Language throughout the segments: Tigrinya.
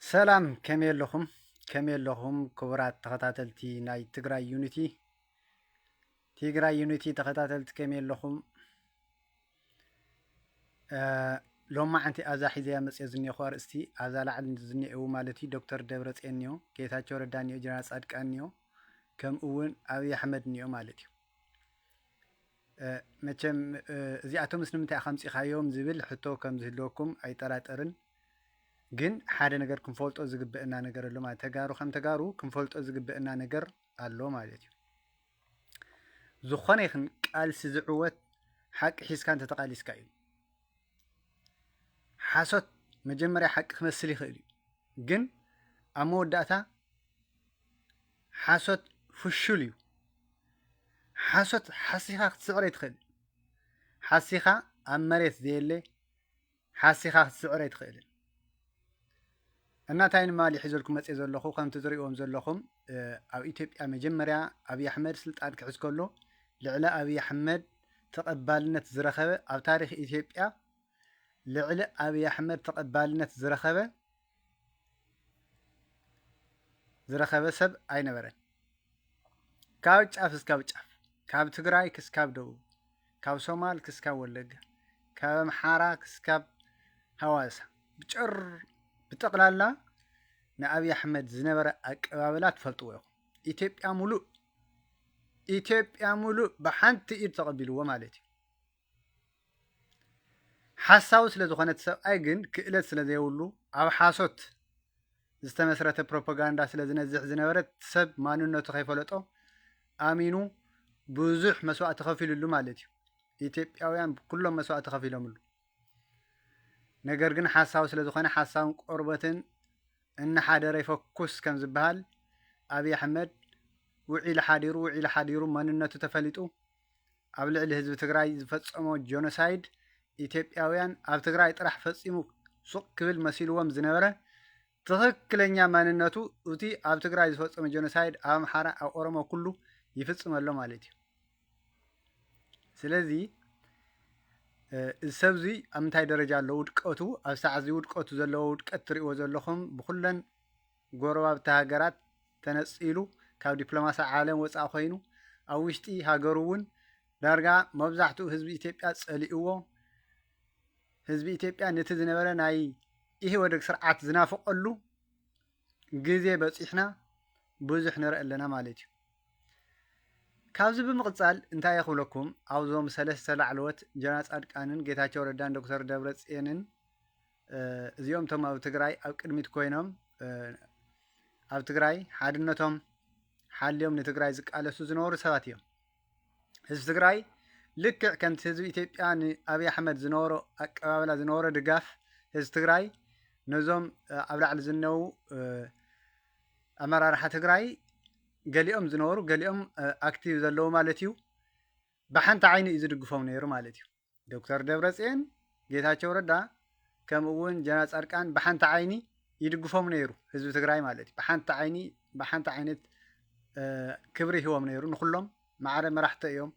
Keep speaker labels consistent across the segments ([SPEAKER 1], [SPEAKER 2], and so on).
[SPEAKER 1] ሰላም ከመይ ኣለኹም ከመይ ኣለኹም ክቡራት ተኸታተልቲ ናይ ትግራይ ዩኒቲ ትግራይ ዩኒቲ ተኸታተልቲ ከመይ ኣለኹም ሎማዓንቲ ኣብዛ ሒዘያ መፅኦ ዝኒኹ ኣርእስቲ ኣብዛ ላዕሊ ዝኒአው ማለት እዩ ዶክተር ደብረፅዮን እኒኦ ጌታቸው ረዳ እኒኦ ጀነራል ፃድቃን እኒኦ ከምኡ እውን ኣብዪ ኣሕመድ እኒኦ ማለት እዩ መቸም እዚኣቶምስ ንምንታይ ኢኻ ኣምጺኻዮም ዝብል ሕቶ ከም ዝህልወኩም ኣይጠራጠርን ግን ሓደ ነገር ክንፈልጦ ዝግበእና ነገር ኣሎ ማለት ተጋሩ ከም ተጋሩ ክንፈልጦ ዝግበእና ነገር ኣሎ ማለት እዩ ዝኾነ ይኽን ቃልሲ ዝዕወት ሓቂ ሒዝካ እንተተቃሊስካ እዩ ሓሶት መጀመርያ ሓቂ ክመስል ይኽእል እዩ ግን ኣብ መወዳእታ ሓሶት ፍሹል እዩ። ሓሶት ሓሲኻ ክትስዕር ኣይትኽእልን። ሓሲኻ ኣብ መሬት ዘየለ ሓሲኻ ክትስዕር ኣይትኽእልን። እናታይ ንማሊ ሒዘልኩም መፅእ ዘለኹ ከምቲ ዝሪእዎም ዘለኹም ኣብ ኢትዮጵያ መጀመርያ ኣብዪ ኣሕመድ ስልጣን ክሕዝ ከሎ ልዕሊ ኣብዪ ኣሕመድ ተቐባልነት ዝረኸበ ኣብ ታሪክ ኢትዮጵያ ልዕሊ ኣብዪ ኣሕመድ ተቐባልነት ዝረኸበ ዝረኸበ ሰብ ኣይነበረን። ካብ ጫፍ እስካብ ጫፍ ካብ ትግራይ ክስካብ ደቡብ ካብ ሶማል ክስካብ ወለጋ ካብ ኣምሓራ ክስካብ ሃዋሳ ብጭር ብጠቕላላ ንኣብዪ ኣሕመድ ዝነበረ ኣቀባብላ ትፈልጥዎ ኢኹም። ኢትዮጵያ ሙሉእ ኢትዮጵያ ሙሉእ ብሓንቲ ኢድ ተቐቢልዎ ማለት እዩ። ሓሳዊ ስለ ዝኾነ እቲ ሰብኣይ ግን ክእለት ስለ ዘይብሉ ኣብ ሓሶት ዝተመስረተ ፕሮፓጋንዳ ስለ ዝነዝሕ ዝነበረ ሰብ ማንነቱ ከይፈለጦ ኣሚኑ ብዙሕ መስዋእቲ ከፊልሉ ማለት እዩ። ኢትዮጵያውያን ኩሎም መስዋእቲ ከፊሎምሉ። ነገር ግን ሓሳዊ ስለ ዝኾነ ሓሳውን ቆርበትን እናሓደረ ይፈኩስ ከም ዝበሃል ኣብዪ ኣሕመድ ውዒሉ ሓዲሩ ውዒሉ ሓዲሩ መንነቱ ተፈሊጡ ኣብ ልዕሊ ህዝቢ ትግራይ ዝፈፀሞ ጆኖሳይድ ኢትዮጵያውያን ኣብ ትግራይ ጥራሕ ፈፂሙ ሱቕ ክብል መሲልዎም ዝነበረ ትኽክለኛ ማንነቱ እቲ ኣብ ትግራይ ዝፈፀመ ጆኖሳይድ ኣብ ኣምሓራ ኣብ ኦሮሞ ኩሉ ይፍፅም ኣሎ ማለት እዩ ስለዚ እዚ ሰብ እዚ ኣብ ምንታይ ደረጃ ኣሎ ውድቀቱ ኣብ ሰዓት እዚ ውድቀቱ ዘለዎ ውድቀት ትሪእዎ ዘለኹም ብኩለን ጎረባብቲ ሃገራት ተነጺሉ ካብ ዲፕሎማሲ ዓለም ወጻኢ ኮይኑ ኣብ ውሽጢ ሃገሩ እውን ዳርጋ መብዛሕትኡ ህዝቢ ኢትዮጵያ ጸሊእዎ ህዝቢ ኢትዮጵያ ነቲ ዝነበረ ናይ ኢህወደግ ስርዓት ዝናፍቀሉ ግዜ በጺሕና ብዙሕ ንርኢ ኣለና ማለት እዩ። ካብዚ ብምቕጻል እንታይ ክብለኩም ኣብዞም ሰለስተ ላዕለዎት ጀነራል ጻድቃንን ጌታቸው ረዳን ዶክተር ደብረጽዮንን እዚኦም እቶም ኣብ ትግራይ ኣብ ቅድሚት ኮይኖም ኣብ ትግራይ ሓድነቶም ሓልዮም ንትግራይ ዝቃለሱ ዝነበሩ ሰባት እዮም ህዝቢ ትግራይ ልክዕ ከምቲ ህዝቢ ኢትዮጵያ ንኣብይ ኣሕመድ ዝነበሮ ኣቀባብላ ዝነበሮ ድጋፍ ህዝቢ ትግራይ ነዞም ኣብ ላዕሊ ዝነው ኣመራርሓ ትግራይ ገሊኦም ዝነበሩ ገሊኦም ኣክቲቭ ዘለዉ ማለት እዩ ብሓንቲ ዓይኒ እዩ ዝድግፎም ነይሩ ማለት እዩ ዶክተር ደብረፅዮን ጌታቸው ረዳ ከምኡ እውን ጀነራል ፃድቃን ብሓንቲ ዓይኒ ይድግፎም ነይሩ ህዝቢ ትግራይ ማለት እዩ ብሓንቲ ዓይኒ ብሓንቲ ዓይነት ክብሪ ሂቦም ነይሩ ንኩሎም ማዕረ መራሕቶ እዮም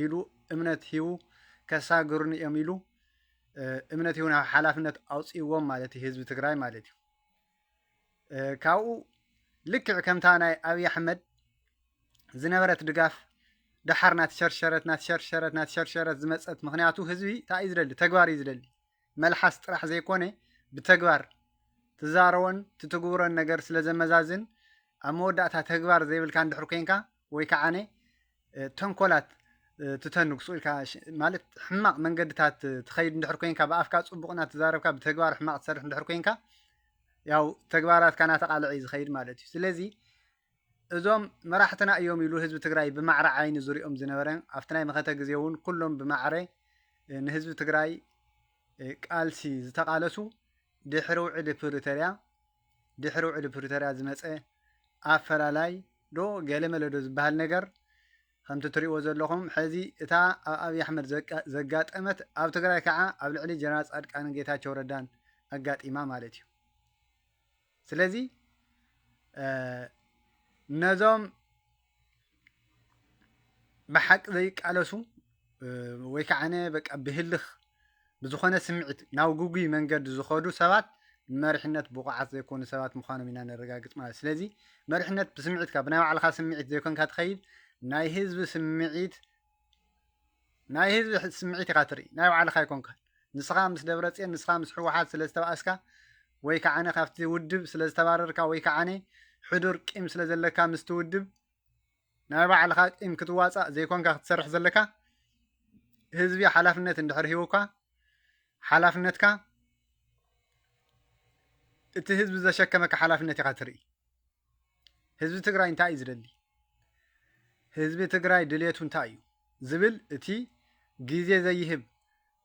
[SPEAKER 1] ኢሉ እምነት ሂቡ ከሳግሩኒ እዮም ኢሉ እምነት ሂቡ ናብ ሓላፍነት ኣውፅዎም ማለት እዩ ህዝቢ ትግራይ ማለት እዩ ካብኡ ልክዕ ከምታ ናይ ኣብዪ ኣሕመድ ዝነበረት ድጋፍ ደሓር ናትሸርሸረት ናትሸርሸረት ናትሸርሸረት ዝመፀት ምክንያቱ ህዝቢ እንታይ እዩ ዝደሊ ተግባር እዩ ዝደሊ መልሓስ ጥራሕ ዘይኮነ ብተግባር ትዛረቦን ትትግብሮን ነገር ስለ ዘመዛዝን ኣብ መወዳእታ ተግባር ዘይብልካ እንድሕር ኮንካ ወይ ከዓነ ተንኮላት ትተንግሱ ኢልካ ማለት ሕማቕ መንገድታት ትኸይድ እንድሕር ኮንካ ብኣፍካ ፅቡቕ እናተዛረብካ ብተግባር ሕማቕ ትሰርሕ እንድሕር ኮንካ ያው ተግባራትካ እናተቃልዐ እዩ ዝኸይድ ማለት እዩ ስለዚ እዞም መራሕትና እዮም ኢሉ ህዝቢ ትግራይ ብማዕረ ዓይኒ ዝሪኦም ዝነበረ ኣብቲ ናይ መኸተ ግዜ እውን ኩሎም ብማዕረ ንህዝቢ ትግራይ ቃልሲ ዝተቃለሱ ድሕሪ ውዕሊ ፕሪቶሪያ ድሕሪ ውዕሊ ፕሪቶርያ ዝመፀ ኣፈላላይ ዶ ገለመለ ዶ ዝበሃል ነገር ከምቲ ትሪእዎ ዘለኹም ሕዚ እታ ኣብ ኣብዪ ኣሕመድ ዘጋጠመት ኣብ ትግራይ ከዓ ኣብ ልዕሊ ጀነራል ፃድቃንን ጌታቸው ረዳን ኣጋጢማ ማለት እዩ ስለዚ ነዞም ብሓቂ ዘይቃለሱ ወይ ከዓ በቃ ብህልኽ ብዝኾነ ስምዒት ናብ ግጉይ መንገዲ ዝኸዱ ሰባት መሪሕነት ብቑዓት ዘይኮኑ ሰባት ምዃኖም ኢና ነረጋግፅ ማለት ስለዚ መሪሕነት ብስምዒትካ ብናይ ባዕልኻ ስምዒት ዘይኮንካ ትኸይድ ናይ ህዝቢ ስምዒት ናይ ህዝቢ ስምዒት ኢኻ ትርኢ ናይ ባዕልኻ ኣይኮንካን ንስኻ ምስ ደብረፅዮን ንስኻ ምስ ሕወሓት ስለ ዝተባእስካ ወይ ከዓነ ካብቲ ውድብ ስለ ዝተባረርካ ወይ ከዓነ ሕዱር ቂም ስለ ዘለካ ምስቲ ውድብ ናይ ባዕልኻ ቂም ክትዋፃእ ዘይኮንካ ክትሰርሕ ዘለካ ህዝቢ ሓላፍነት እንድሕር ሂቡካ ሓላፍነትካ እቲ ህዝቢ ዘሸከመካ ሓላፍነት ኢኻ ትርኢ ህዝቢ ትግራይ እንታይ እዩ ዝደሊ ህዝቢ ትግራይ ድሌቱ እንታይ እዩ ዝብል እቲ ግዜ ዘይህብ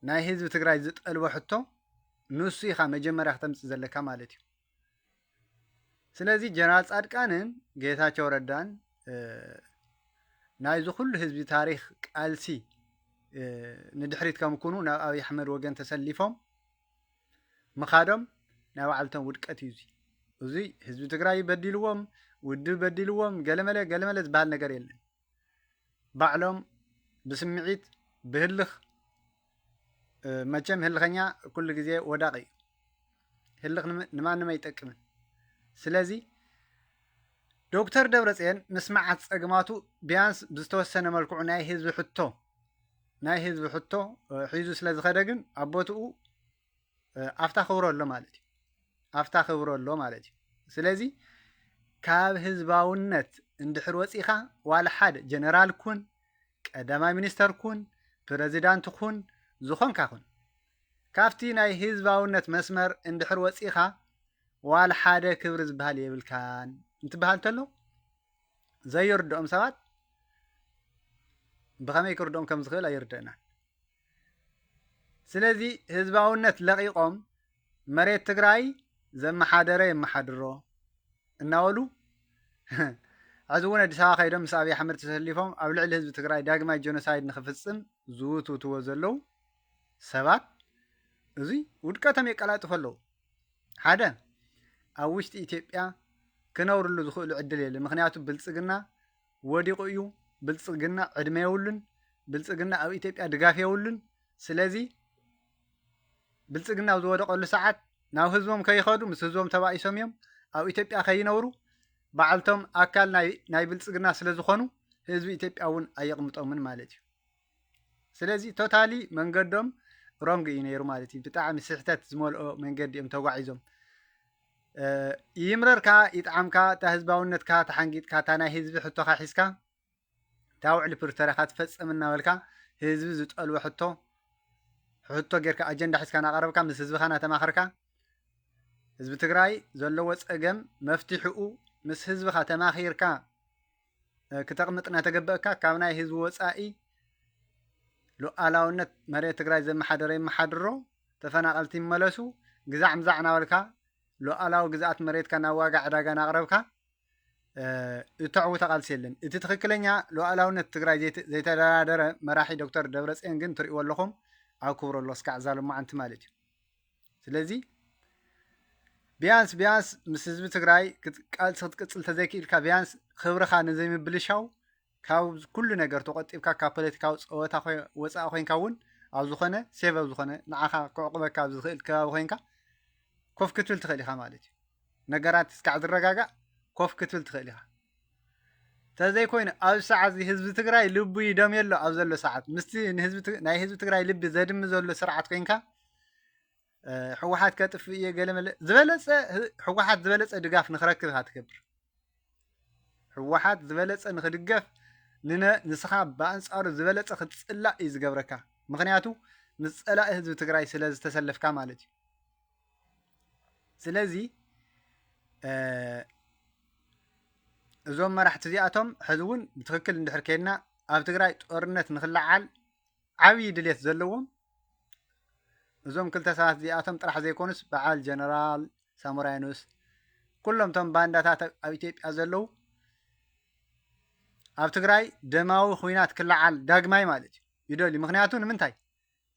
[SPEAKER 1] ናይ ህዝቢ ትግራይ ዝጠልቦ ሕቶ ንሱ ኢኻ መጀመርያ ክተምፅእ ዘለካ ማለት እዩ ስለዚ ጀነራል ፃድቃንን ጌታቸው ረዳን ናይዚ ኩሉ ህዝቢ ታሪክ ቃልሲ ንድሕሪት ከም ኩኑ ናብ ኣብይ ኣሕመድ ወገን ተሰሊፎም ምኻዶም ናይ ባዕልቶም ውድቀት እዩ። እዙይ ህዝቢ ትግራይ በዲልዎም፣ ውድብ በዲልዎም፣ ገለመለ ገለመለ ዝበሃል ነገር የለን። ባዕሎም ብስምዒት ብህልኽ መቸም ህልኸኛ ኩሉ ግዜ ወዳቂ እዩ። ህልኽ ንማንም ኣይጠቅምን። ስለዚ ዶክተር ደብረፅዮን ምስ መዓት ፀግማቱ ቢያንስ ብዝተወሰነ መልክዑ ናይ ህዝቢ ሕቶ ናይ ህዝቢ ሕቶ ሒዙ ስለ ዝኸደ ግን ኣብ ቦትኡ ኣፍታ ክብሮ ኣሎ ማለት እዩ ኣፍታ ክብሮ ኣሎ ማለት እዩ ስለዚ ካብ ህዝባውነት እንድሕር ወፂኻ ዋላ ሓደ ጀነራል ኩን ቀዳማይ ሚኒስተር ኩን ፕረዚዳንት ኩን ዝኾንካ ኩን ካብቲ ናይ ህዝባውነት መስመር እንድሕር ወፂኻ ዋላ ሓደ ክብሪ ዝበሃል የብልካን እንትበሃል ተሎ ዘይርድኦም ሰባት ብኸመይ ክርድኦም ከም ዝኽእል ኣይርድእናን። ስለዚ ህዝባውነት ለቒቖም መሬት ትግራይ ዘመሓደረ የመሓድሮ እናበሉ ሕዚ እውን ኣዲስ ኣበባ ከይዶም ምስ ኣብዪ ኣሕመድ ተሰሊፎም ኣብ ልዕሊ ህዝቢ ትግራይ ዳግማይ ጀኖሳይድ ንክፍፅም ዝውትውትዎ ዘለው ሰባት እዙይ ውድቀቶም የቀላጥፎ ኣለው። ሓደ ኣብ ውሽጢ ኢትዮጵያ ክነብርሉ ዝኽእሉ ዕድል የለ ምክንያቱ ብልፅግና ወዲቑ እዩ ብልፅግና ዕድመ የብሉን ብልፅግና ኣብ ኢትዮጵያ ድጋፍ የብሉን ስለዚ ብልፅግና ኣብ ዝወደቐሉ ሰዓት ናብ ህዝቦም ከይኸዱ ምስ ህዝቦም ተባኢሶም እዮም ኣብ ኢትዮጵያ ከይነብሩ ባዕልቶም ኣካል ናይ ብልፅግና ስለ ዝኾኑ ህዝቢ ኢትዮጵያ እውን ኣየቕምጦምን ማለት እዩ ስለዚ ቶታሊ መንገዶም ሮንግ እዩ ነይሩ ማለት እዩ። ብጣዕሚ ስሕተት ዝመልኦ መንገዲ እዮም ተጓዒዞም። ይምረርካ ይጥዓምካ እታ ህዝባውነትካ ተሓንጊጥካ እታ ናይ ህዝቢ ሕቶኻ ሒዝካ እታ ውዕሊ ፕሪቶሪያኻ ትፈፅም እናበልካ ህዝቢ ዝጠልቦ ሕቶ ሕቶ ጌርካ ኣጀንዳ ሒዝካ እናቐረብካ ምስ ህዝብኻ እናተማኸርካ ህዝቢ ትግራይ ዘለዎ ፀገም መፍትሕኡ ምስ ህዝብኻ ተማኺርካ ክተቕምጥ እናተገበእካ ካብ ናይ ህዝቢ ወፃኢ ሉኣላውነት መሬት ትግራይ ዘመሓደረ ይመሓድሮ፣ ተፈናቐልቲ ይመለሱ፣ ግዛዕ ምዛዕ እናበልካ ሉኣላዊ ግዝኣት መሬትካ ናብ ዋጋ ዕዳጋ እናቕረብካ እተዕውተ ቃልሲ የለን። እቲ ትኽክለኛ ሉኣላውነት ትግራይ ዘይተደራደረ መራሒ ዶክተር ደብረፅዮን ግን ትሪእዎ ኣለኹም ኣብ ክብሮ ኣሎ እስካዕ እዛ ሎማዓንቲ ማለት እዩ። ስለዚ ቢያንስ ቢያንስ ምስ ህዝቢ ትግራይ ቃልሲ ክትቅፅል ተዘይክኢልካ ቢያንስ ክብርኻ ንዘይምብልሻው ካብ ኩሉ ነገር ተቆጢብካ ካብ ፖለቲካዊ ፀወታ ወፃኢ ኮንካ እውን ኣብ ዝኾነ ሴቭ ኣብ ዝኾነ ንዓኻ ክዕቑበካ ኣብ ዝኽእል ከባቢ ኮንካ ኮፍ ክትብል ትኽእል ኢኻ ማለት እዩ ነገራት እስካዕ ዝረጋጋእ ኮፍ ክትብል ትኽእል ኢኻ ተዘይኮይኑ ኣብዚ ሰዓት እዚ ህዝቢ ትግራይ ልቡ ይደምዮ ኣሎ ኣብ ዘሎ ሰዓት ምስቲ ናይ ህዝቢ ትግራይ ልቢ ዘድሚ ዘሎ ስርዓት ኮንካ ሕወሓት ከጥፍእ እየ ገለመለ ዝበለፀ ሕወሓት ዝበለፀ ድጋፍ ንክረክብ ኢካ ትገብር ሕወሓት ዝበለፀ ንክድገፍ ንስኻ ብኣንፃሩ ዝበለፀ ክትፅላእ እዩ ዝገብረካ ምክንያቱ ምስ ፀላኢ ህዝቢ ትግራይ ስለ ዝተሰለፍካ ማለት እዩ ስለዚ እዞም መራሕቲ እዚኣቶም ሕዚ እውን ብትክክል እንድሕር ከይድና ኣብ ትግራይ ጦርነት ንክለዓል ዓብዪ ድሌት ዘለዎም እዞም ክልተ ሰባት እዚኣቶም ጥራሕ ዘይኮኑስ በዓል ጀነራል ሳሞራይኖስ ኩሎም እቶም ባንዳታት ኣብ ኢትዮጵያ ዘለዉ ኣብ ትግራይ ደማዊ ኩናት ክለዓል ዳግማይ ማለት እዩ ይደልዩ ምክንያቱ ንምንታይ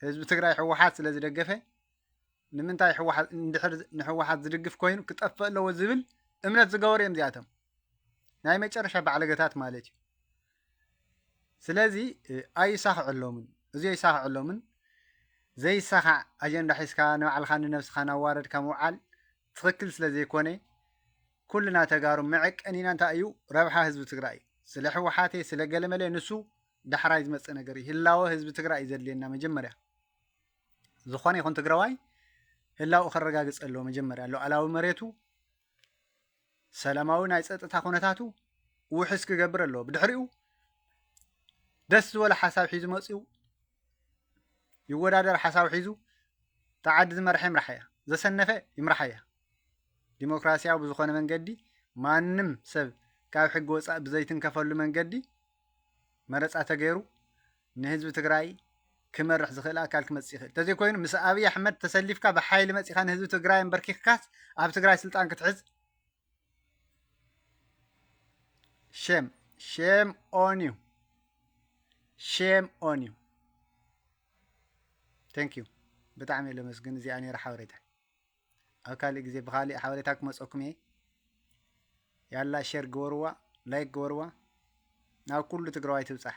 [SPEAKER 1] ህዝቢ ትግራይ ህወሓት ስለ ዝደገፈ ንምንታይ ህወሓት እንድሕር ንህወሓት ዝድግፍ ኮይኑ ክጠፍእ ኣለዎ ዝብል እምነት ዝገበሩ እዮም እዚኣቶም ናይ መጨረሻ ባዕለገታት ማለት እዩ ስለዚ ኣይሳኽዐሎምን እዚ ኣይሳኽዐሎምን ዘይሳኻዕ ኣጀንዳ ሒዝካ ንባዕልኻ ንነብስኻ ናዋረድካ ምውዓል ትኽክል ስለ ዘይኮነ ኩልና ተጋሩ መዐቀኒና እንታይ እዩ ረብሓ ህዝቢ ትግራይ እዩ ስለ ህወሓቴ ስለ ገለመለ ንሱ ዳሕራይ ዝመፅእ ነገር እዩ። ህላወ ህዝቢ ትግራይ እዩ ዘድልየና መጀመርያ ዝኾነ ይኹን ትግራዋይ ህላውኡ ከረጋግፅ ኣለዎ መጀመርያ ሉዓላዊ መሬቱ ሰላማዊ ናይ ፀጥታ ኩነታቱ ውሕስ ክገብር ኣለዎ ብድሕሪኡ ደስ ዝበሎ ሓሳብ ሒዙ መፅኡ ይወዳደር ሓሳብ ሒዙ እታ ዓዲ ዝመርሐ ይምራሓ እያ ዘሰነፈ ይምራሓ እያ ዲሞክራሲያዊ ብዝኾነ መንገዲ ማንም ሰብ ካብ ሕጊ ወፃእ ብዘይትንከፈሉ መንገዲ መረፃ ተገይሩ ንህዝቢ ትግራይ ክመርሕ ዝኽእል ኣካል ክመፅእ ይኽእል ተዘይኮይኑ ምስ ኣብይ ኣሕመድ ተሰሊፍካ ብሓይሊ መፂኻ ንህዝቢ ትግራይ ኣንበርኪኽካስ ኣብ ትግራይ ስልጣን ክትሕዝ ሼም ሼም ኦን ዩ ሼም ኦን ዩ ቴንክ ዩ ብጣዕሚ ለመስግን እዚኣ ነይራ ሓበሬታ ኣብ ካልእ ግዜ ብካልእ ሓበሬታ ክመፀኩም እየ ያላ ሸር ግበርዋ ላይክ ግበርዋ ናብ ኩሉ ትግራዋይ ትብፃሕ